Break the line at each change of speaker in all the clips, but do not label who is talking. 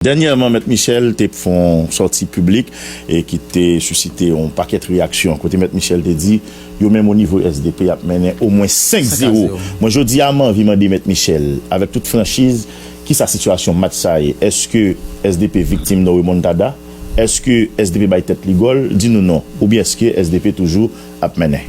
Dènyèman Mèt Michel te fon sòti piblik e ki te sisite yon pakèt reyaksyon kote Mèt Michel te di yo menm onivo sdp y ap mennen omwen 5 zewo. Mwen jodi a m anvi mande Mèt Michel avèk tout franchiz kisa sitiyasyon match sa ye? Eske sdp viktim nan remontada? Eske sdp bay tèt li gòl? Di nou non. Oubyen eske sdp toujou ap mennen?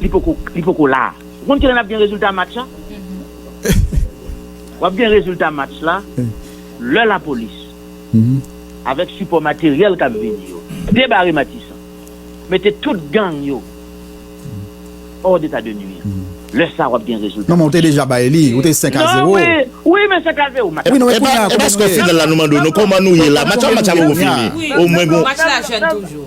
li poko li poko la a. Ou konn kilè nap gen rezilta match la? Wap gen rezilta match la lè lapolis avèk sipò materyèl kap vini yo debare Matisan, mete tout gang yo hors d'état de nuire. Lè sa wap gen rezilta match la. Non men ou te deja bay li,
ou te 5 a 0. Non wi, wi
men 5 a 0 match la. Epi
eske final
la nou mandé nou koman nou ye la? Match la match la poko fini. Omwen gon. Match la jeune toujou.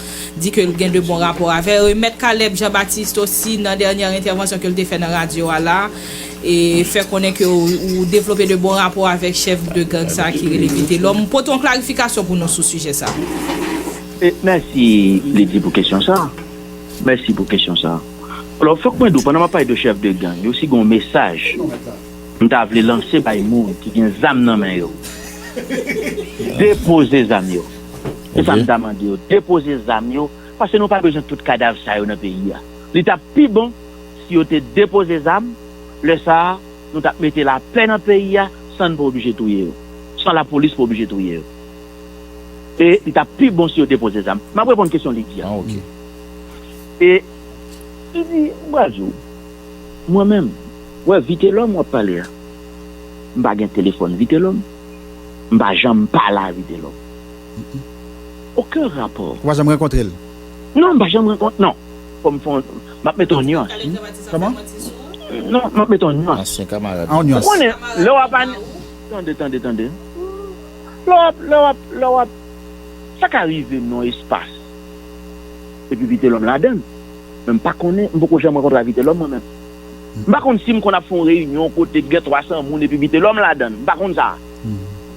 di ke l gen de bon rapò avè yo e Mèt Caleb Jean Baptiste osi nan dènyè entèvansyon ke l te fè nan radyo a la e fè konnen ke ou devlope de bon rapò avèk chèf de gang sa ki rele Vitelòm. M pote yon klarifikasyon pou nou sou sijè sa. Mèsi
Lydie pou kesyon sa. Mèsi pou kesyon sa. Alò fòk mwen di w pandan m ap pale de chèf de gang yo si gen yon mesaj m ta vle lanse bay moun ki gen zam nan men yo depoze zam yo. Se sa m ta mande yo. Depoze zam yo, paske nou pa bezwen tout kadav sa yo nan peyi a. Li t ap pi bon si yo te depoze zam, lè sa a, nou t ap mete lapè nan peyi a san n pa oblije touye yo, san lapolis pa oblije touye yo. E li t ap pi bon si yo depoze zam. M ap reponn kesyon Lydie a.
E
Lydie, m pral di w, mwen menm, wè Vitelòm w ap pale a, m pa gen telefòn Vitelòm. M pa janm pa lari Delo. Oken rapò. Ou pa janm rankontre l?
Non, m pa janm
rankontre non. Fò m fè yon, m ap mete yon nuans wi. Kòman?
Non,
m ap mete yon nuans. Ansyen kamarad ou. Ou
konnen,
lè w ap an. Tande, tande,
tande. Lè w ap, lè w ap, lè w ap. Sa ka rive nan yon espas epi Vitelòm ladan l. Men m pa konnen, m poko janm rankontre ak Vitelòm mwen menm. M pa konn si m konn ap fè yon reyinyon kote k gen 300 moun epi Vitelòm ladan l. M pa konn sa.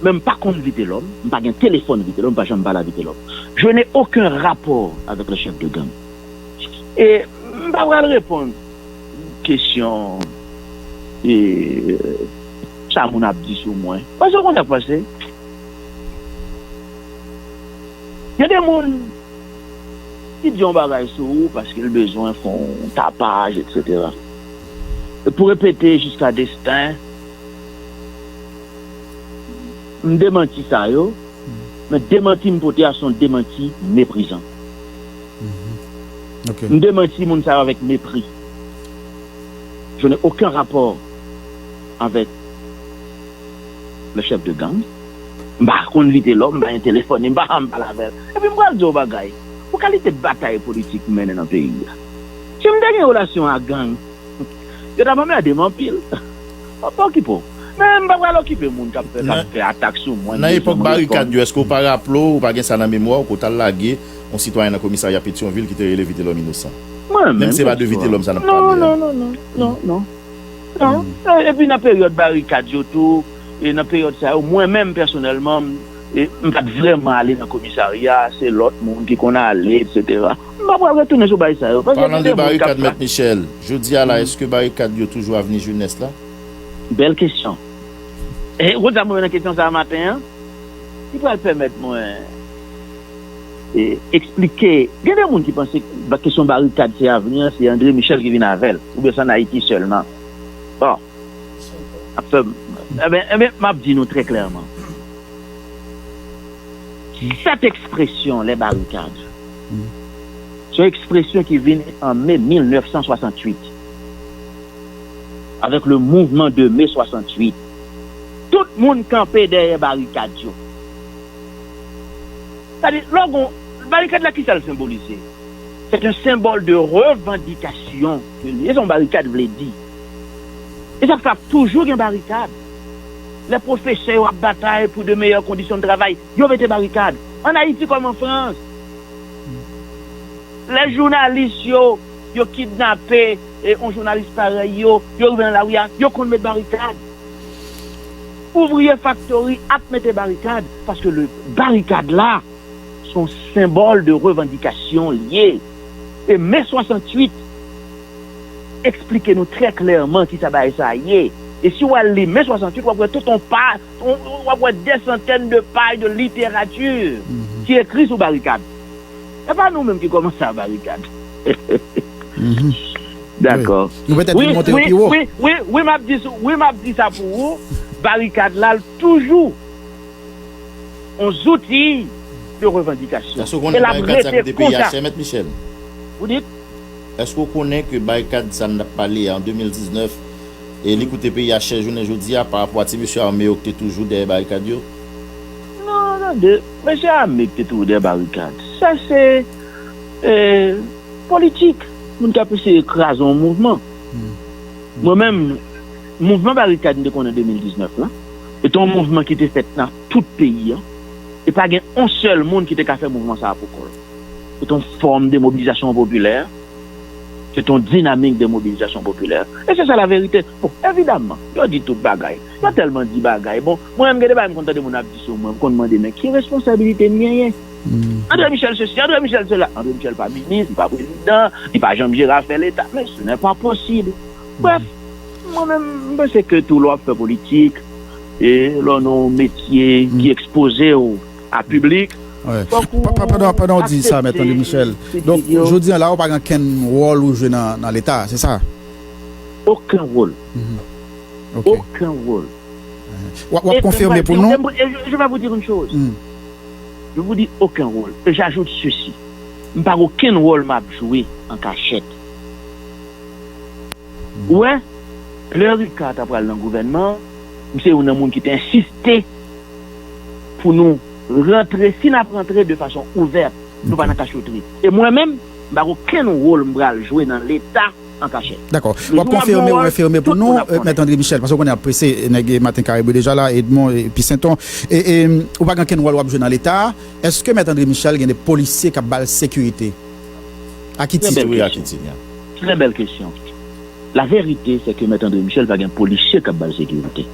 Men m pa konn Vitelòm, m pa gen telefòn Vitelòm, m pa janm pale a Vitelòm. Je n'ai aucun rapport avec le chef de gang. E m pa pral reponn kesyon sa moun ap di sou mwen. Paske ou konn sa k pase? Gen de moun. Li di yon bagay sou ou paske l bezwen fè yon tapaj eksetera. E pou repete jiska desten m demanti sa yo, men demanti m pote a se yon demanti meprizan. M demanti moun sa yo avèk mepri. Je n'ai aucun rapport avèk Le chef de gang, m pa konn li te la w, m pa gen telefòn li, m pa janm pale avè l. Epi m pral di w yon bagay, pou kalite batay politik m mennen nan peyi a, si m te gen relasyon ak gang, yo t ap anmède m anpil. M ap okipe w. Men m pa pral okipe moun k ap fè atak sou mwen, m bezwen m reponn.
Èske w pa raple w, ou pa gen sa nan memwa w, ke w t al lage yon sitwayen nan komisarya Petyonvil ki te rele Vitelòm Inosan? Menm si se pa de Vitelòm sa n ap pale a. Non, non, non, non, non,
non. Non, epi nan peryòd barikad yo tou, e nan peryòd sa yo, mwen menm pèsonèlman, m pa t vrèman ale nan komisarya, se lòt moun ki konn ale, eksetera. M pa pral retounen sou bagay sa yo, paske gen de moun k ap
fè. Jodi a la, èske barikad yo toujou avni jenès la? Bèl kesyon.
Ou konn sa m wè nan kesyon sa a maten an? Ki pral pèmèt mwen. eksplike gen de moun ki panse kesyon barikad se avni an se Andre Michel ki vin avèl oubyen se an Ayiti sèlman bon nap fè enben enben map di nou trè klèman 7 ekspresyon lè barikad se yon ekspresyon ki vin an me 1968 avèk le mouvman de me 68 tout moun kanpe dèyè barikad yo. Sa di, lò gon, barikad la kisa l senbolize? C'est un symbole de revendication ke li ye, se yon barikad vle di. E sa fè ap toujou gen barikad. Lè pwofesè yo ap batay pou de meyè kondisyon de travay, yo mete barikad. An Ayiti kòm an Frans. Lè jounalis yo, yo kidnape yon jounalis parèy yo, yo rive nan lari a, yo konn met barikad. Ouvriye faktori ap mete barikad paske le barikad la son senbòl de revandikasyon li ye e me 68 esplike nou trè klèman kisa bagay sa ye e si w al li me 68 w ap wè tout on pa w ap wè dè santèn de paj de literati ki ekri sou barikad. Epa nou menm ki komanse a barikad Dako
wi wi map di
sou wi map di sa pou ou barikad la toujou on zouti de revandikasyon Eske ou konnen barikad sa
ki te peye a chè mèt Michel
Eske ou konnen
ke barikad sa nap pale a an 2019 e li koute peyi a chè jounen jodi a pa rapò a ti mesye ame yo ki te toujou dèyè barikad yo
Non tande. Mesye a mete tou dè barikad. Sa se politik moun k ap eseye kraze yon mouvman. Mwen menm, mouvman barikad m te konnen 2019 lan, se te yon mouvman ki te fèt nan tout peyi an, e pa gen yon sèl moun ki te ka fè mouvman sa a pou kò l. Se te yon fòm de mobilizasyon popilè, se te yon dinamik de mobilizasyon popilè, e se sa laverite. Bon, evidaman, yo di tout bagay. Mwen tèlman di bagay, bon, mwen menm gen de bagay m konn tande moun ap di sou mwen, m konn mande men ki responsabilite m genyen? Andre Michel sesi, Andre Michel sela, Andre Michel pa minis, li pa prezidan, li pa janm jere afè leta, men se nè pa posib. Brèf, mwen menm m panse ke tou lè w ap fè politik, e lè w nan yon metye ki ekspoze w a piblik, fòk ou
aksepte. Pandan w di sa mèt Andre Michel, donk jodi an la ou pa gen okenn wòl ou jwe nan leta, se sa? Oken
wòl.
oken wol. Wap wap konfime pou nou. E je va vou dir yn
choz. Je vou di oken wol. E jajout sesi. M pa gen oken wol map jwe an kachet. Ou wè, lè Ricard ta pral nan gouvènman an, m se youn nan moun ki te ensiste pou nou rantre, si nap rantre de fason ouvèt, nou pa nan kachotri. E mwen menm, m pa gen oken wol m pral jwe nan leta. an kachèt. Dakò. W ap konfime
ou enfime pou nou, Mèt Andre Michel, paske ou konnen y ap prese, nèg Maten Kare Bri deja la, Edmon epi Senton. E ou pa gen okenn wòl w ap jwe nan Leta a. Eske Mèt Andre Michel gen de polisye k ap ba l sekirite? A ki tit? Trè bèl kesyon. Laverite se
ke Mèt Andre Michel pa gen polisye k ap ba l sekirite.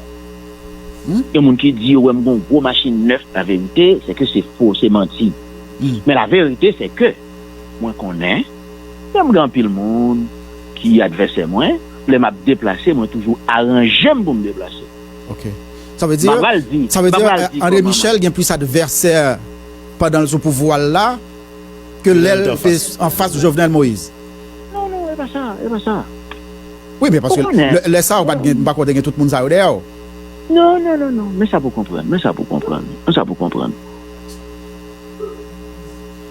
Gen moun ki di yo wè m gen yon gwo machin nèf. Laverite se ke se fo, se manti. Men laverite se ke. Mwen konnen, lè m gen anpil moun ki advèsè mwen, lè m ap deplase, mwen toujou aranje m pou m deplase. Ok.
Sa vle di, sa vle di André Michel gen plis advèsè pandan l sou pouvwa l la ke lè l te anfas Jovenel Moïse? Non, non, e pa
sa, e pa sa. Wi, men
paske lè sa a ou pa t gen, m pa kwè w te gen tout moun sa yo dèyè w. Non, non, non,
non, men sa pou w konprann, men sa pou w konprann, men sa pou w konprann.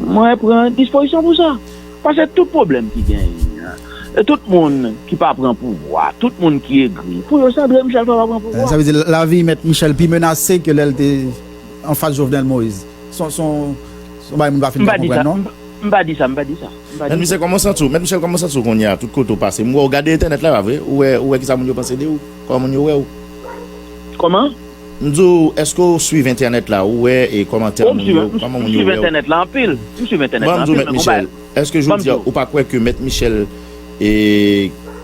Mwen pran dispozisyon pou sa. Pase tout pwoblèm ki genyen an, e tout moun ki pa pran pouvwa, tout moun ki egri, pou yo se André Michel pa va pran pouvwa. Sa vle di lavi mèt
Michel pi menase ke lè l te anfas Jovenel Moïse. S on bagay moun pa fin ka konprann non. M pa di sa, m pa di
sa. Mèt Michel
kòman w santi w? Mèt Michel kòman w santi w kounyea tout kote w pase? M wè w gade entènèt la pa vre? Ou wè kisa moun yo panse de ou? Kòman moun yo wè w?
Kòman? M di w eske
w swiv entènèt la ou wè e kòmantè moun yo kòman moun yo wè
w Bon m di w
mèt
Michel
eske jodi a ou pa
kwè
ke mèt Michel e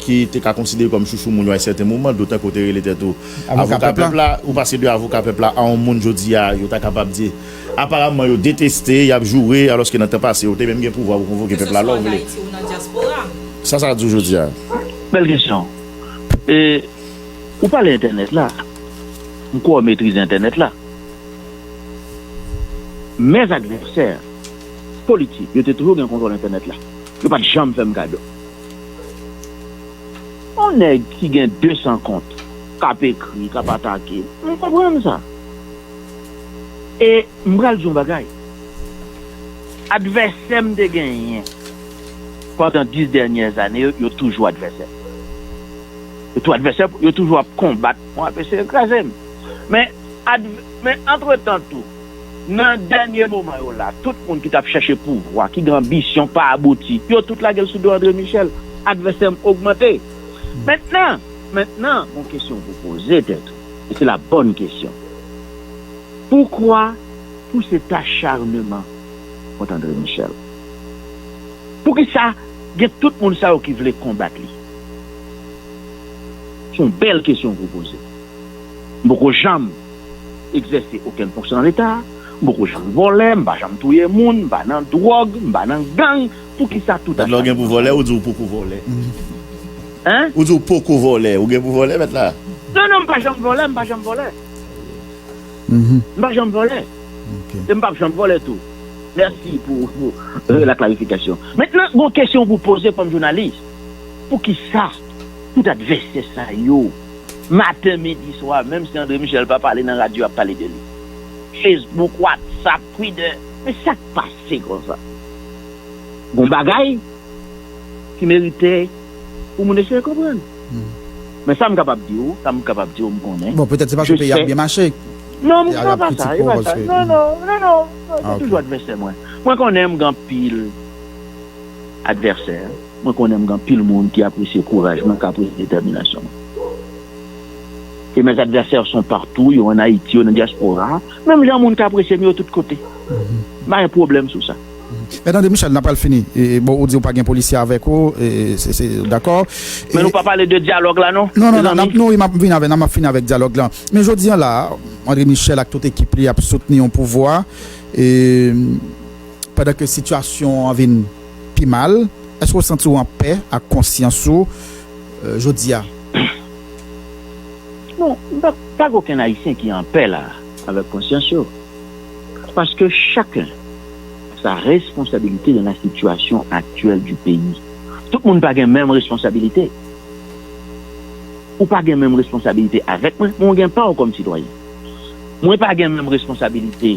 ki te ka konsidere kòm chouchou moun yo a yon sèten moman dotan ke w te rele tèt ou avoka pèp la ou pase de avoka pèp la a yon moun jodi a yo ta kapab di aparamman yo deteste y ap joure alòske nan tan pase yo te menm gen pouvwa pou konvoke pèp la lè w vle sa sa di w jodi a? Bèl kesyon
e ou pale entènèt la. M kwè w metrize entènèt la. Mèz advèsè politik yo te toujou gen kontwòl entènèt la. Yo pa t janm fè m kado. Yon nèg ki gen 200 kont k ap ekri, k ap atake, m konprann sa. E m pral di yon bagay. Advèsè m te genyen pandan 10 dènyè ane yo, yo toujou advèsè m. Se tou advèsè pou yo toujou ap konbat pou ap eseye kraze m. Men men antretan tou nan dènye moman yo la tout moun ki t ap chèche pouvwa, ki gen anbisyon pa abouti, yo tout lage l sou do Andre Michel. Advèsè m ogmante. Mentnan mentnan gon kesyon pou w poze tèt ou e se la bòn kesyon. Poukwa tout set acharneman kont Andre Michel? Poukisa gen tout moun sa yo ki vle konbat li? Se yon bèl kesyon ke w poze. M poko janm egzèse okenn fonksyon nan Leta, m poko janm vòlè, m pa janm touye moun, m pa nan dwòg, m pa nan gang, poukisa tout a chanje nan sa? Mèt la w gen pou vòlè, ou di w poko
vòlè.
Hein? Ou di w poko
vòlè, ou gen pou vòlè mèt la? Non, non, m pa janm
vòlè, m pa janm vòlè. M pa janm vòlè. E m pap janm vòlè tou. Mèsi pou la klarifikasyon. Mentnan, gen yon kesyon pou w poze kòm jounalis. Poukisa tout advèsè sa yo maten midi swa menm si Andre Michel pa pale nan radyo yap pale de li Facebook WhatsApp Twitter men sak pase konsa gon bagay ki merite pou moun eseye konprann men sam kapab diw sam kapab diw mkonnen jesè non mwen pa pa sa non
non non
se toujou advèsè mwen mwen konnen mgen anpil. advèsè, mwen konnen m gen anpil moun ki apresye kouraj mwen, kapris, detèminasyon mwen. E mes adversaires sont partout, yo an Ayiti, yo nan dyaspora, menm jan moun k apresye m yo tout kote. M pa gen pwoblèm sou sa. Men tande Michel,
n ap pral fini. Bon, ou di ou pa gen polisye avèk ou, dakò. Men nou pa pale
de dyalòg la non, mezanmi. Non, wi, m ap vini
avè l, m ap fini avèk dyalòg la. Men jodi an la a, André Michel ak tout ekip li ap soutni yon pouvwa. pandan ke sitiyasyon w an vin pi mal, èske w santi w an pè ak konsyans ou jodi a?
Non, m pa gen okenn Ayisyen ki an pè la a avèk konsyans yo, paske chaken a sa responsabilite dan la sitiyasyon aktyèl di peyi. Tout moun pa gen menm responsabilite. Ou pa gen menm responsabilite avèk mwen, men w gen pa w kòm sitwayen. Mwen pa gen menm responsabilite.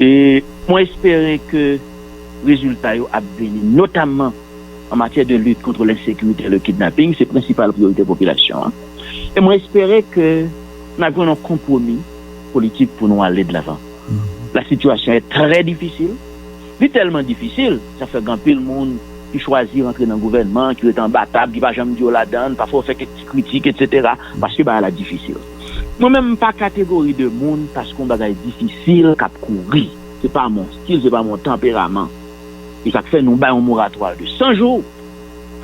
e mwen espere ke rezilta yo ap vini, notamman an matyè de lit kontre lensekirite e le kidnaping, se prensipal priyorite popilasyon an, e mwen espere ke n ap jwenn yon konpwomi politik pou nou ale dlavan. La sitiyasyon è trè difisil, li tèlman difisil, sa fè gen anpil moun ki chwazi rantre nan gouvènman, ki rete anba tab, ki pa janm di yo ladan, pafwa yo fè kèk ti kritik, etsetera, paske bagay la difisil. Mwen menm m pa kategori de moun paske yon bagay difisil k ap kouri. Se pa mon stil, se pa mon tanperaman. Se sa k fè nou bay yon moratwa de 100 jou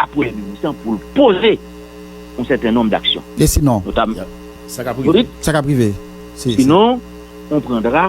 a Premye Minis lan pou l poze yon sèten nonm daksyon. Notamman. E sinon? Sa
k
ap rive?
Sa k ap rive? Sinon,
on prendra.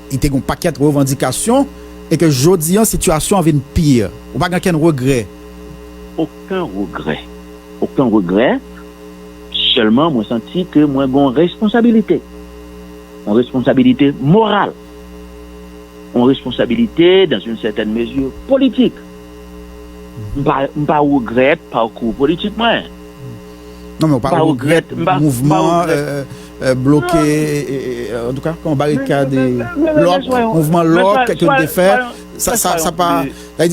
Li te gen yon pakèt revandikasyon e ke jodi an sitiyasyon an vin pi. Ou pa gen okenn regrè? Oken regrè.
Oken regrè. Sèlman mwen santi ke mwen gen yon responsabilite. Yon responsabilite moral. Yon responsabilite dans une certaine mesure politik. M pa regrèt pakou politik mwen.
Non men ou pa regrèt mouvman bloke, an tou ka, kon barikade, lòk, mouvman lòk, kèk yo te fè, sa pa,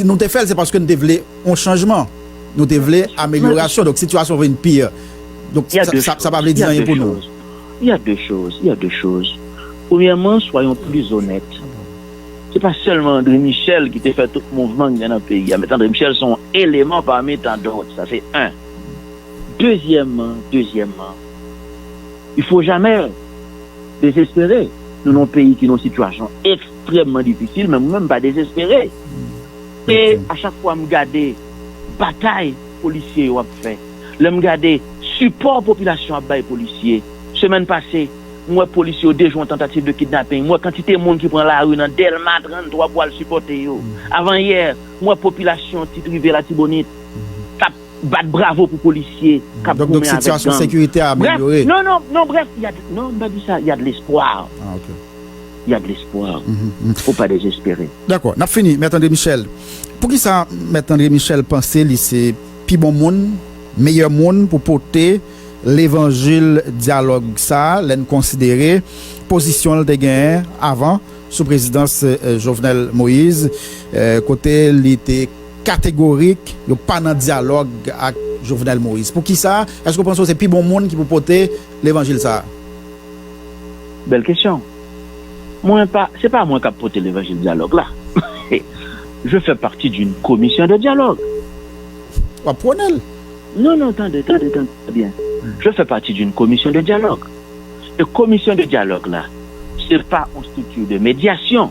nou te fèl se paske nou te vle yon chanjman, nou te vle amelyorasyon, donk sitiyasyon vin pi, donk sa pa vle di anyen pou nou. Y a 2
choz, y a 2 choz. Premyèman, swayon plis onèt. Se pa sèlman André Michel ki te fè tout mouvman ki gen nan peyi a, met André Michel se yon eleman pami tandòt, sa se 1. Dezyèman, dezyèman, il faut jamais dezespere. Nou nan yon peyi ki nan yon sitiyasyon ekstrèmman difisil men mwen menm m pa dezespere. E a chak fwa m gade batay polisye yo ap fè, lè m gade sipò popilasyon an ap bay polisye. Semèn pase, m wè polisye yo dejwe yon tantativ de kidnaping, m wè kantite moun ki pran lari nan Dèlma 33 pou al sipòte yo. Avan yè, m wè popilasyon Ti Tri Ve Latibonit. kap bat bravo pou polisye kap
goumen avèk gang brèf non non non brèf non m pa
di sa ya de lespwa ya de lespwa fo pa dezespere dakò nap fini mèt
andre michèl poukisa mèt andre michèl panse li se pi bon moun meyè moun pou pote levanjil dyalòg sa lè n konsidere pozisyon l te genyen avan sou prezidans jovenel moïse kote li te Kategorik, yo pa nan dyalòg ak Jovenel Moïse. Pou ki sa? Èske ou panse ou se pi bon moun ki pou pote levanjil sa a?
Bèl kesyon. Mwen pa, se pa mwen k ap pote levanjil dyalòg la. Je fais partie d'une commission de dialogue. W ap
pwone l? Non,
non, tande, tande, tande byen. Je fais partie d'une commission de dialogue. E commission de dialogue la, se pa yon structure de médiation.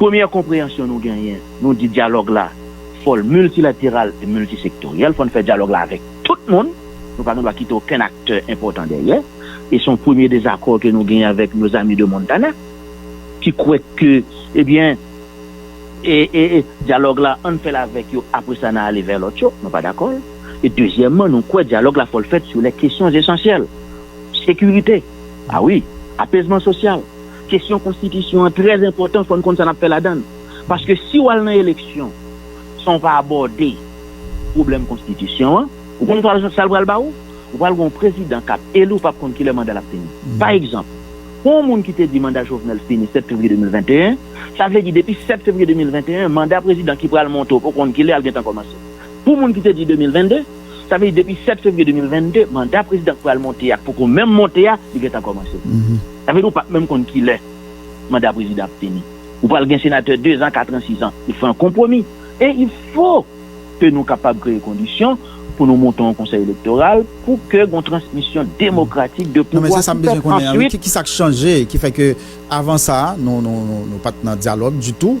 Premyè konpreyansyon nou genyen, nou di dyalòg la fò l miltilateral e miltisektoryèl, fò n fè dyalòg la avèk tout moun, nou pa gen dwa kite okenn aktè enpòtan dèyè, e se yon premye dezakò ke nou genyen avèk nos amis de Montana, ki kwè ke, ebyen, e, e, e, dyalòg la, an n fè l avèk yo, apre sa n a ale vè lòt yo, nou pa dakò l, e dezyèmman, nou kwè dyalòg la fò l fèt sou lè kesyons esansyèl, sekirite, a wi, apezman sosyal. Kesyon konstitisyon an trè enpòtan fò n konn sa n ap fè ladan l paske si w al nan eleksyon san w pa abòde pwoblèm konstitisyon an ou konn sa l pral ba ou? Ou pral gen yon prezidan k ap eli ou p ap konn kilè manda l ap fini. Pa egzanp, pou yon moun ki te di manda Jovenel fini 7 fevriye 2021, sa vle di depi 7 fevriye 2021 manda prezidan ki pral monte ou poko konn kilè l gentan kòmanse. Pou moun ki te di 2022. Sa vle di depi 7 fevriye 2022, manda prezidan k pral monte a poko menm monte a, li gentan kòmanse. Sa vle di ou pap menm konn kilè manda prezidan ap fini. Ou pral gen senatè dezan, katran, sizan. Yo fè yon konpwomi. E il fo ke nou kapab kreye kondisyon pou nou monte yon konsèy elektoral pou ke gon transmisyon demokratik de pouvwa ki fèt. Non men se sa m bezwen konnen an wi.
Kisa k chanje ki fè ke avan sa nou pat nan dyalòg ditou?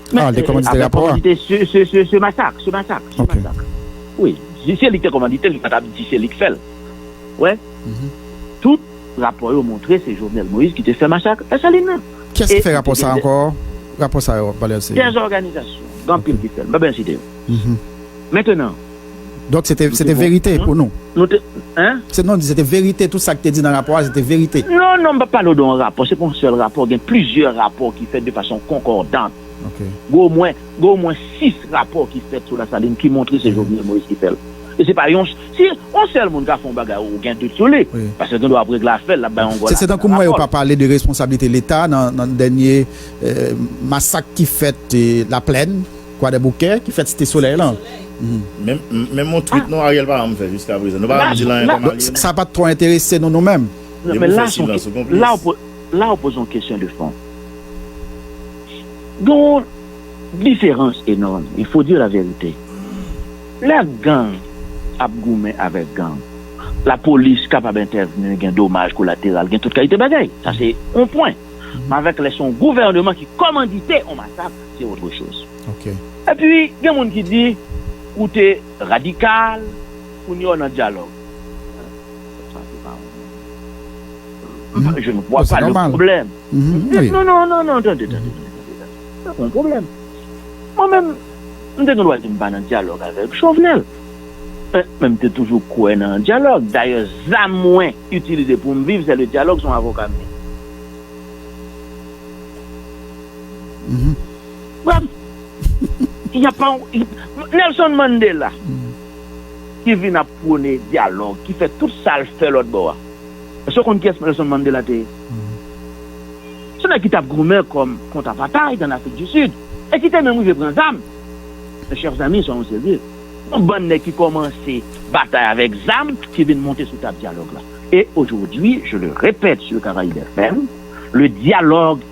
Men, ah, li te
kòmandite rapò a? Kòmandite se
masak,
se
masak, se masak.
Wi,
si se li ki te kòmandite l, li pa t ap di se li ki fè l. Wè? Tout rapò yo montre se Jovenel Moïse ki te fè masak Desalin nan. Kiyès ki fè rapò sa
ankò? Rapò sa yo w ap pale a se. Gen zòganizasyon,
gen anpil ki fè l. M pa bezwen site yo. Mentenan. Donk
se te verite pou nou? Nou te hein? Se
non m di se te verite
tout sa ki te di nan rapò a se te verite? Non non m pap pale w de
yon rapò se pa yon sèl rapò gen plizyè rapò ki fèt de fason konkòdant gen omwen gen omwen 6 rapò ki fèt
sou
Lasalin ki montre se Jovenel Moïse ki fè l e se pa yon si yon sèl moun ka fè yon bagay ou gen dout sou li paske l gen dwa ap regle afè l l ap bay yon gòl se tankou m wè yo pa pale
de responsablite leta nan dènye masak ki fèt Laplèn. Kwadèboukè ki fèt site solèy lan.
Menm yon tweet non Ariel pa janm fè jiska prezan. Nou pa janm di l anyen kòm alye nou. Sa pat twò enterese
nou nou menm. Depi w fè silans ou
konplis. La ou poze yon kesyon de fon. Gen yon diferans enòm, il faut dire la vérité. Lè gang ap goumen avèk gang, lapolis kapab entèvni, gen domaj kolateral, gen tout kalite bagay. Sa se yon pwen. Men avèk lè se yon gouvèneman ki kòmandite yon masak. se otre choz. Epi
gen
moun ki di ou te radikal kounye a w nan dyalòg. Sa se pa yon je ne vwa pa le pwoblèm. Non non
non non tande tande tande
tande sa pa yon pwoblèm. Mwen menm m te gen dwa di m pa nan dyalòg avèk Jovenel men m te toujou kwè nan dyalòg dayè zam mwen itilize pou m viv se le dyalòg se yon avoka m ye. Nelson Mandela ki vin ap pwone dyalòg, ki fè tout sa l fè lòtbò a. Èske w konn kiyès Nelson Mandela te ye? Se nèg ki t ap goumen kont kont apatay ann Afrik di Sid e ki te menm rive pran zam. Men chèf zanmi, soyons serieux. Yon bann nèg ki kòmanse batay avèk zam ki vin monte sou tab dyalòg la. E ojodwi, je le répète sur Caraïbes FM, le dialogue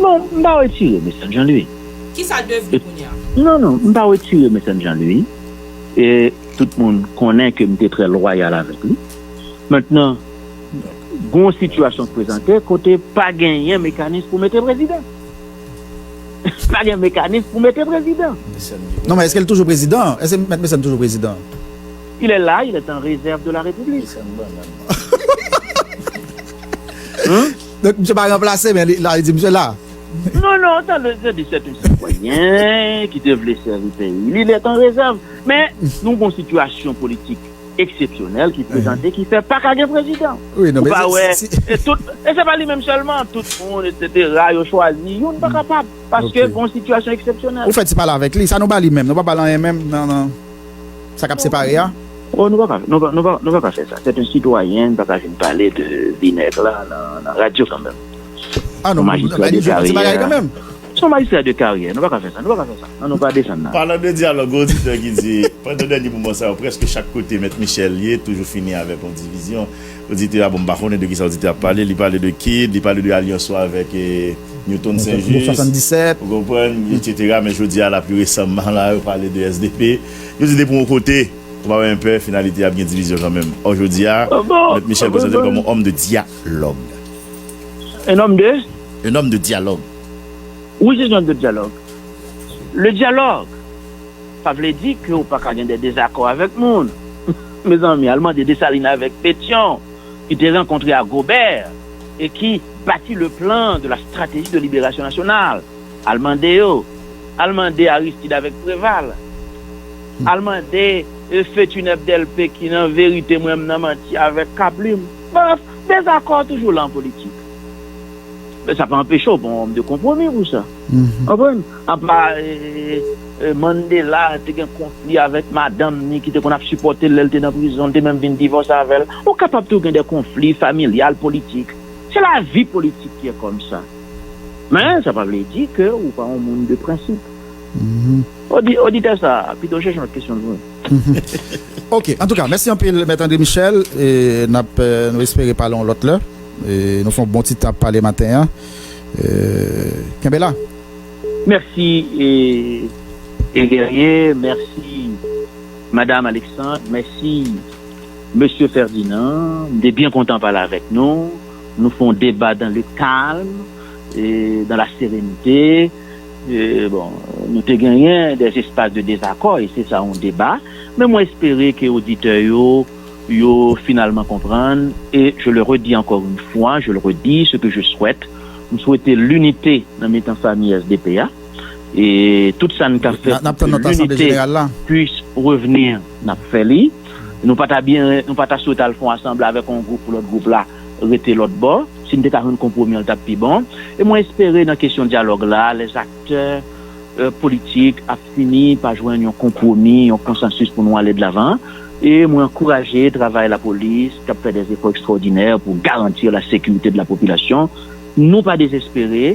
Non,
m pa wetire Messange an li. Ki
sa l devni kounye a? Non, non, m pa
wetire Messange an li. E tout moun konnen ke m te trè lwayal avèk li. Mentnan, gen yon sitiyasyon ki prezante kote pa genyen mekanis pou mete prezidan. Pa gen mekanis pou mete prezidan. Non, men èske l
toujou prezidan? Èske Mèt Messange toujou prezidan? Il est là,
il est en réserve de la République.
Donk misye pa ranplase men li la li di misye la. Non non tande
se di se te sitwayen ki te vle sèvi peyi li net an rezèv men nou gon sitiyasyon politik eksepsyonèl ki prezante ki fè paka gen prezidan ou pa wè
e tout
e se pa li menm sèlman tout moun esetera yo chwazi youn pa kapab paske gon sitiyasyon eksepsyonèl. Ou fè ti pale avèk li
sa nou ba li menm nou pa bal anyen menm nan. sa kap separe a? Oh nou paka
nou paka fè sa c'est un citoyen nou paka vin pale de vi nèg la nan radyo kanmenm son
majistra de karyè son majistra de
karyè nou paka fè sa nou paka fè sa nan nou pa desann nan. Palan de dyalòg gen
oditè ki di pandan dènye moman sa yo prèske chak kote mèt Michel ye toujou fini avèk yon divizyon. Oditè a, bon m pa konnen de kisa oditè a ap pale, li pale de Kid, li pale de alyans ou avèk Newton St Juste, ou konprann, etsetera, men jodi a la pli resamman la yo pale de sdp, yo di depi yon kote, ou pa wè enpe finalite ap gen divizyon kanmenm. Ò jodi a, Mèt Michel prezante l kòm yon homme de dialòg.
Un homme de? Un homme de dialòg.
Which
is not the dialòg? Le dialòg! Sa vle di ke ou pa ka gen de dezakò avèk moun. Mezanmi, al mande Dessalines avèk Pétion, ki te rankontre ak Robert e ki bati le plan de la stratégie de libération nationale, al mande yo, al mande Aristide avèk Préval, al mande Feutuneb Delpé ki nan verite mwen m nan manti avèk Kablim. Brèf, dezakò toujou la an politik. men sa pa anpeche w pa yon òm de konpwomi pou sa. Ou konprann? Apa Mandela te gen konfli avèk madanm ni ki te konn ap sipòte l lè l te nan prizon, li te menm vin divòse avè l. Ou kapab tou gen de konfli familyal, politik. Se lavi politik ki e kòmsa. Men sa pa vle di ke ou pa yon moun de prensip. Oditè sa a pito chèche yon lòt kesyon pou mwen.
Ok, antouka mèsi anpil Mèt André Michel e n ap nou espere pale yon lòt lè. Nou fon bon ti tap pale maten an kenbe la.
Merci Guerrier merci madame Alexandre merci Monsieur Ferdinand m te byen kontan pale avèk nou nou fon deba dans le calme dans la sérénité bon nou te genyen des espaces de désaccord et c'est ça un débat men mwen espere ke oditè yo yo finalman konprann e je le redi ankò yn fwa je le redi se ke je swèt m swete linite nan mitan fami sdp a e tout sa n ka fè pou ke linite pwis revni n ap fè li nou pa ta byen nou pa ta swete al fon asanble avèk yon gwoup pou lòt gwoup la rete lòt bò si n te ka jwenn konpwomi an l t ap pi bon e mwen espere nan kesyon dyalòg la lè aktè politik ap. fini pa jwenn yon konpwomi, yon konsansis pou nou ale de lavan e mwen ankouraje travay lapolis kap fè dè efò ekstrawòdinè pou garantir la sekirite de la popilasyon. Nou pa dezespere.